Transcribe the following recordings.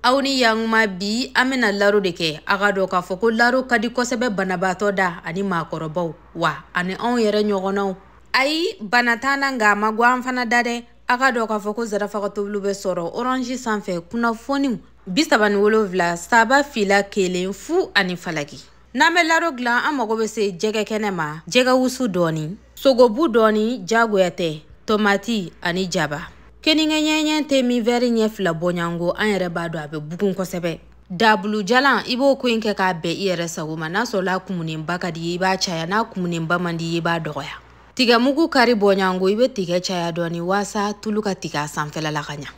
aw ni yankuma bi an bɛna laro de kɛ a k'a dɔn k'a fɔ ko laro ka di kosɛbɛ banabaatɔ da ani maakɔrɔbaw wa ani anw yɛrɛ ɲɔgɔnnaw ayi bana t'an na nka a man go an fana da dɛ a k'a dɔn k'a fɔ ko zarafa ka tobiliw bɛ sɔrɔ orange sanfɛ kunnafoniw bi saba ni wolonwula saba fila kelen fu ani falaki n'an bɛ laro dilan an mago bɛ se jɛgɛ kɛnɛ ma jɛgɛ wusu dɔɔni sogobu dɔɔni jagoya tɛ tomati ani jaba keninge ɲɛɲɛ te min wɛri ɲɛ fila bɔɲango an yɛrɛ b'a dɔn a bɛ bugun kosɛbɛ dabulu jalan i b'o ko in kɛ k'a bɛn i yɛrɛ sago ma n'a sɔrɔla kumunenba ka d'i ye i b'a caya n'a kumunenba man d'i ye i b'a dɔgɔya tigɛmugu kari bɔɲango i bɛ tigɛ caya dɔɔni waasa tulu ka tigɛ a sanfɛla la ka ɲa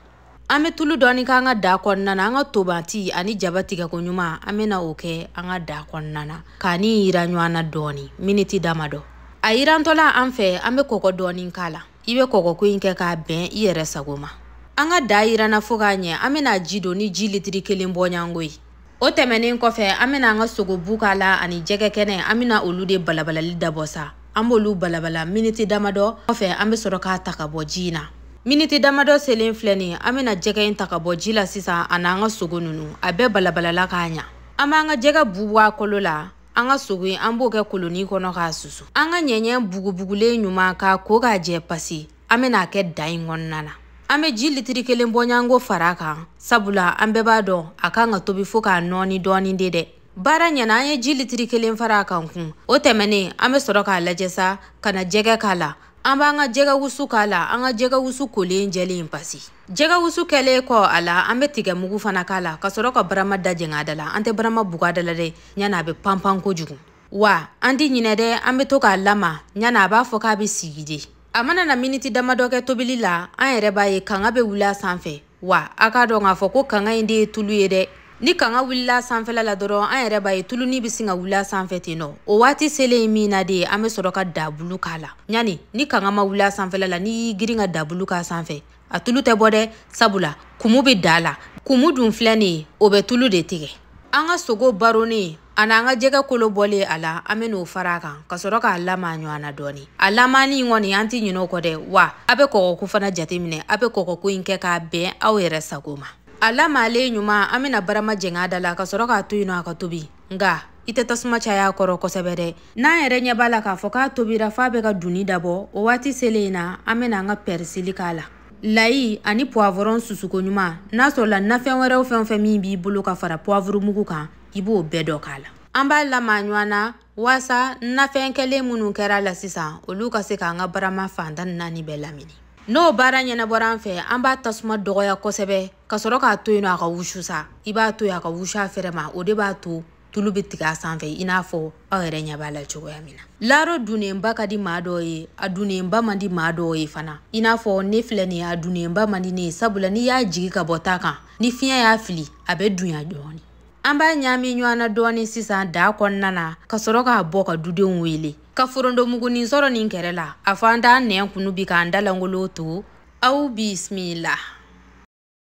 an bɛ tulu dɔɔni k'an ka da kɔnɔna na an ka tomati ani jaba tigɛko ɲuman an bɛna o kɛ an ka da kɔnɔna na k'a ni yiran ɲɔgɔn na dɔɔni miniti damadɔ a yirantɔla an fɛ an bɛ kɔgɔ dɔɔni k'a la i bɛ kɔgɔko in kɛ k'a bɛn i yɛrɛ sago ma an ka da yiranna fo k'a ɲɛ an bɛna ji don ni ji litiri kelen bɔɲango ye o tɛmɛnen kɔfɛ an bɛna an ka sogobu k'a la ani jɛgɛ kɛnɛ an bɛna olu de balabalali dabɔ sa an b'olu balabala miniti damadɔ kɔfɛ an bɛ sɔrɔ k'a ta ka bɔ ji in na miniti damadɔ selen filɛ nin an bɛna jɛgɛ in ta ka bɔ ji la sisan ani an ka sogo ninnu a bɛɛ balabalala k'a ɲa an b'an ka jɛgɛ bu bɔ a kolo la an ka sogo in an b'o kɛ koloni kɔnɔ k'a susu an ka ɲɛɲɛ bugubugulen ɲuman k'a ko k'a jɛ pasi an bɛn'a kɛ da in kɔnɔna na an bɛ ji litiri kelen bɔɲanko fara a kan sabula an bɛɛ b'a dɔn a kan ka tobi fo ka nɔɔni dɔɔni de dɛ baara ɲɛna an ye ji litiri kelen fara a kan kun o tɛmɛnen an bɛ sɔrɔ k'a lajɛ sa ka na jɛgɛ k'a la an b'an ka jɛgɛ wusu k'a la an ka jɛgɛ wusu kolen jɛlen pasi jɛgɛ wusu kɛlen kɔ a la an bɛ tigɛmugu fana k'a la ka sɔrɔ ka barama da jɛng'a da la an tɛ barama bug'a da la dɛ ɲani a bɛ panpan kojugu wa an tɛ ɲinɛ dɛ an bɛ to k'a lama ɲani a b'a fɔ k'a bɛ sigi de a mana na miniti damadɔ kɛ tobili la an yɛrɛ b'a ye kanga bɛ wuli a sanfɛ wa a k'a dɔn k'a fɔ ko kanga in de ye tulu ye dɛ ni kanga wulila sanfɛla la dɔrɔn an yɛrɛ b'a ye tuluni bɛ sin ka wuli a sanfɛ ten nɔ o waati selen ye min na de an bɛ sɔrɔ ka dabulu k'a la ɲani ni kanga ma wuli a sanfɛla la n'i y'i girin ka dabulu k'a sanfɛ a tulu tɛ bɔ dɛ sabula kumu bɛ da la kumu dun filɛ nin ye o bɛ tulu de tigɛ an ka sogo baronnen an'an ka jɛgɛ kolo bɔlen a la an bɛn'o fara a kan ka sɔrɔ k'a lama ɲɔgɔn na dɔɔni a lamani in kɔni an tɛ ɲinɛ o kɔ dɛ wa a bɛ kɔgɔko fana jateminɛ a bɛ kɔgɔko in kɛ k'a bɛn aw yɛrɛ sago ma a lamalen ɲuman an bɛna barama jɛng'a da la ka sɔrɔ k'a to yen nɔ a ka tobi nka i tɛ tasuma cay'a kɔrɔ kosɛbɛ dɛ n'an yɛrɛ ɲɛ b'a la k'a fɔ k'a tobira f'a bɛ ka dunni dabɔ o waati selen in na an bɛna an ka pɛrisili k'a la layi ani puwavɔrɔn susuko ɲuman n'a sɔrɔla nafɛn wɛrɛw fɛn o fɛn min b'i bolo ka fara puwavurumugu kan i b'o bɛɛ dɔ k'a la an b'a lama ɲɔgɔn na waasa nafɛn kɛlen minnu kɛr'a la sisan olu ka se k'an ka barama fan tan ni naani bɛɛ lamini n'o baara ɲɛnabɔra an fɛ an b'a tasuma dɔgɔya kosɛbɛ ka sɔrɔ k'a to yen nɔ a ka wusu sa i b'a to yen a ka wusu a fɛrɛ ma o de b'a to tulu bɛ tigɛ a sanfɛ i n'a fɔ aw yɛrɛ ɲɛ b'a la cogoya min na laro dunnenba ka di maa dɔw ye a dunnenba man di maa dɔw ye fana i n'a fɔ ne filɛ nin ye a dunnenba man di ne ye sabula n'i y'a jigi ka bɔ ta kan ni fiɲɛ y'a fili a bɛ dunya dɔɔnin an b'a ɲaami ɲɔgɔn na dɔɔni sisan daa kɔnɔna na ka sɔrɔ k'a bɔ ka dudenw wele ka forontomugunin sɔrɔ nin kɛrɛ la a fɔ an t'an nɛn kunu bi k'an da lankolon to aw bisimila